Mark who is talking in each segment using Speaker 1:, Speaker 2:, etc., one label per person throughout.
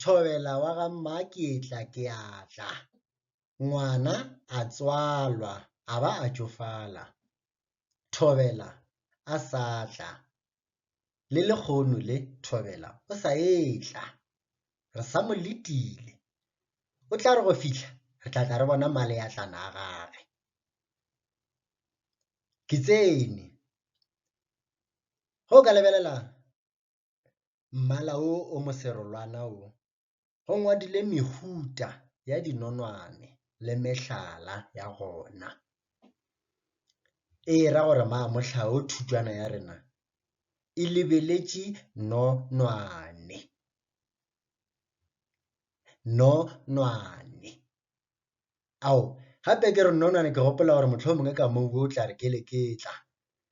Speaker 1: Thobela wa ga Mmakeetla ke a tla. Ngwana a tswalwa a ba a tšofala. Thobela a sa tla. Le lekgono le Thobela o sa etla. Re sa mo letile. O tla re go fihla re tla tla re bona maleatlana a gage. Ke tsene. Go ka lebelelang? mmala o o moserolwana o, go ngwadile mehuta ya dinonwane le mehlala ya gona. E ra gore maa mohla o thutšwana ya rena e lebeletše nonwane, nonwane. Ao, gape ke re nonwane ke gopola gore mohlomongwe ka mo o tla re keleketla,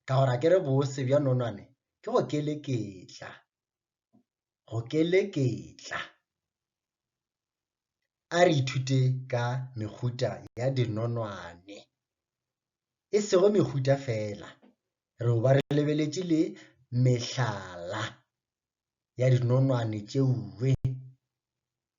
Speaker 1: ka gore a ke re bose bja nonwane ke go keleketla, go keleketla. A re ithute ka mehuta ya dinonwane, e sego mehuta fela, re ba re lebeletše le mehlala ya dinonwane tšeuwe.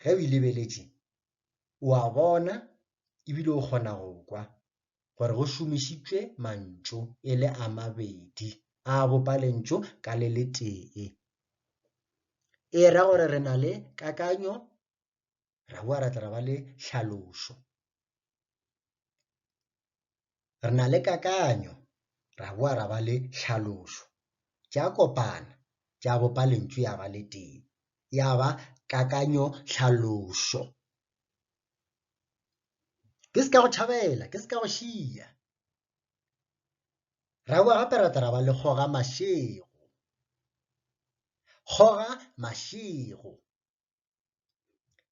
Speaker 1: ge o e lebeletše o a bona ebile o kgona go kwa gore go šomišitšwe mantšu e le a mabedi a bopa lentšu ka le le tee e ra gore re na le kakanyo ra boa ra tla ba le tlhalošo re na le kakanyo ra boa ra ba le tlhalošo tša kopana tša bopa lentšu ya ba le tee ya ba kakanyo tlhalošo ke se ka go tšhabela ke se ka go šia ra boa gape ra tla ra ba le kgoga mašego kgoga mašego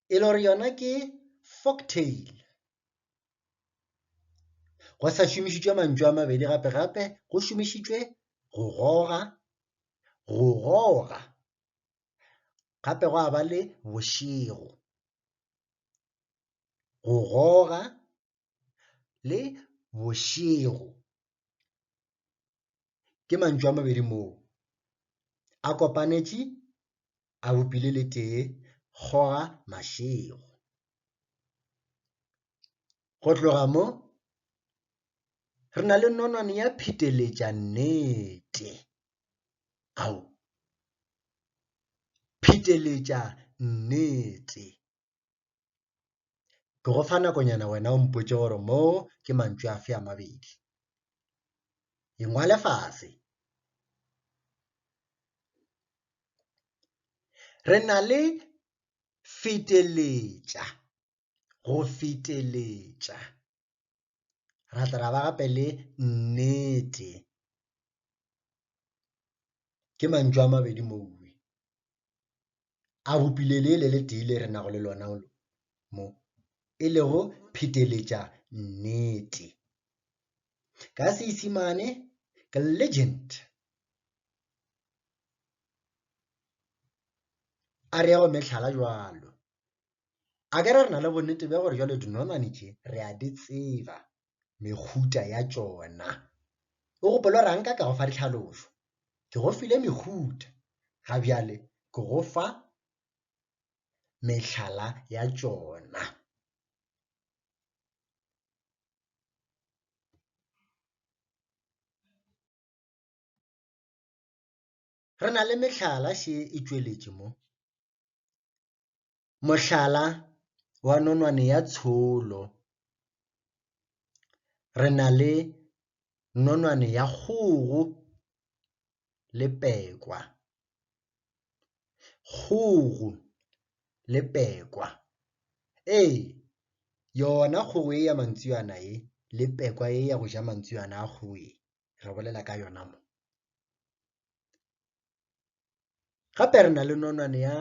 Speaker 1: e le gore yona ke folktail go sa šomišitšwe mantšu a mabedi gape gape go šomišitšwe go goga go goga gape go a ba le bošego go goga le bošego ke mantšu a mabedi moo a kopanetše a bopile le tee kgoga mašego go tloga mo re na le nonwane ya pheteletša nnete ao pheteletša nnete Ke go fa nakonyana wena o mpotše gore mo ke mantšu afe a mabedi. E ngwale fase. Re na le feteletša, go feteletša. ra tla ra ba gape le nnete ke mantšu a mabedi mowe a bopile le le le tee le re nago le lona mo e lego pheteletša nnete ka seisimane ke legend a re go metlhala jwalo A ka re re na le bonnete bja gore jalo dinonwane tše re a di tseba mekhuta ya tšona. O gopolo rang ka ka go fa ditlhalošo? Ke go file mekhuta, ga bjale ke go fa mehlala ya tšona. Re na le mehlala še e tšweletše mo. Mohlala wa nonwane ya tsholo, re na le nonwane ya kgogo le pekwa. Kgogo le pekwa, ee yona kgogo e ya mantswiwana e le pekwa e ya go ja mantswiwana a kgogo e, re bolela ka yona mo. Gape re na le nonwane ya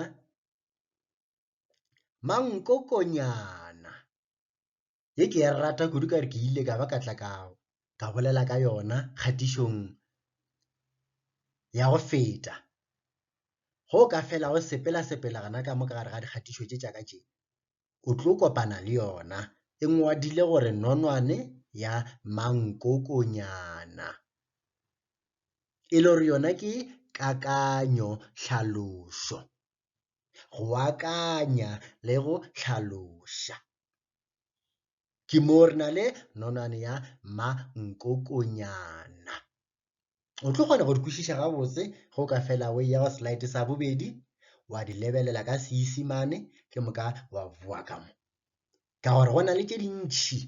Speaker 1: mankokonyana ye ke ya rata kudu ka re ke ile ka ba ka tla ka ka bolela ka yona kgatišong ya go feta go ka fela go sepela sepela gana ka mo ka gare ga dikgatišo tše tša ka tše o tlo kopana le yona e ngwadile gore nonwane ya mankokonyana e le gore yona ke kakanyo tlhalošo go akanya le go hlaloša ke moo re na le nonwane ya mankokonyana o tlo kgona go di kwešiša gabotse go ka fela o ya go slide sa bobedi wa di lebelela ka seisimane ke moka wa boa ka mo ka gore go na le tše dintšhi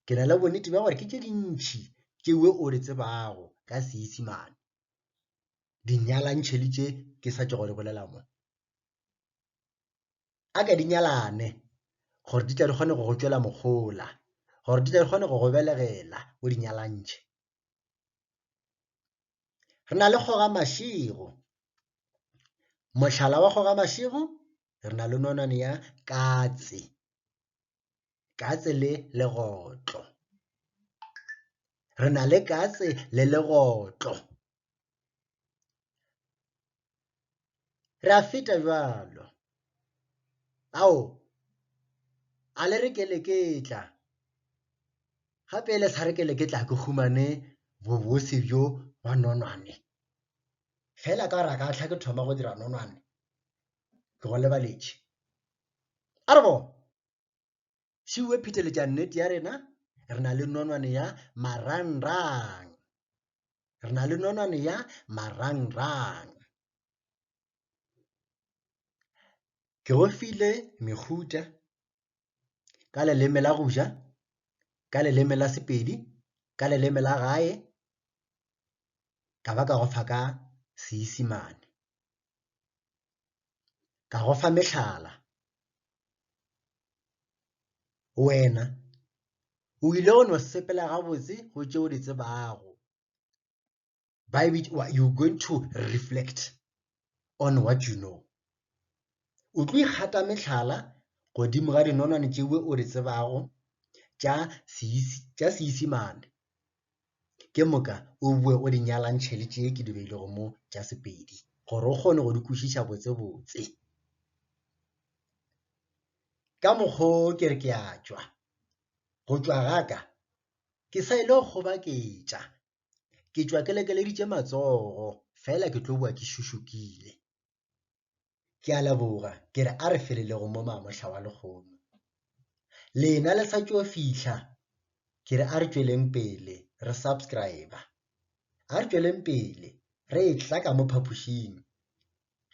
Speaker 1: ke na le bonnete bja gore ke tše dintšhi tše we o di tsebago ka seisimane dinyalantšheli tše ke sa tšego di bolela mo a ke di nyalane gore di tle di kgone go go tšwela mogola gore di tle di kgone go go belegela o di nyalantšhe re na le kgoga mašego mohlala wa kgoga mašego re na le nonwane ya katse katse le legotlo re na le katse le legotlo Re a feta bjalo. Ao, a le re ke le ke tla. Gape le sa re ke le ke tla ke humane bobose bjo ba nonwane. Fela ka gore a ka tlha ke thoma go dira nonwane, ke go lebaletše. A re bona. She o pheteletša nnete ya rena, re na le nonwane ya marangrang. Re na le nonwane ya marangrang. Ke go file mehuta ka leleme la go ja, ka leleme la Sepedi, ka leleme la gae, ka ba ka go fa ka Seisimane. ka go fa mehlala wena o ile go no sepela gabotse go tšeo di tsebago ba e bitša you going to reflect on what you know o tlo ikgata mehlala godimo ga dinonwane tšewe o di tsebago tša seisimane Ke moka o boe o di nyalantšhe le tše ke di beilego mo tša Sepedi gore o kgone go di kwešiša botsebotse. Ka mokgwa o ke re ke a tšwa, go tšwa ga ka ke sa ile go kgobaketša, ke tšwa ke lekeleditše matsogo fela ke tlo boa ke šušukile. ke a leboga ke re a re felelego mo mamohla wa lekgomo lena le sa tšo fihla ke re a re tšweleng pele re subscribe a re tšweleng pele re e tla ka mo phapošing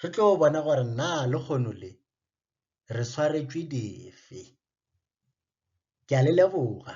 Speaker 1: re tlo bona gore na le kgono le re swaretšwe dife ke a le leboga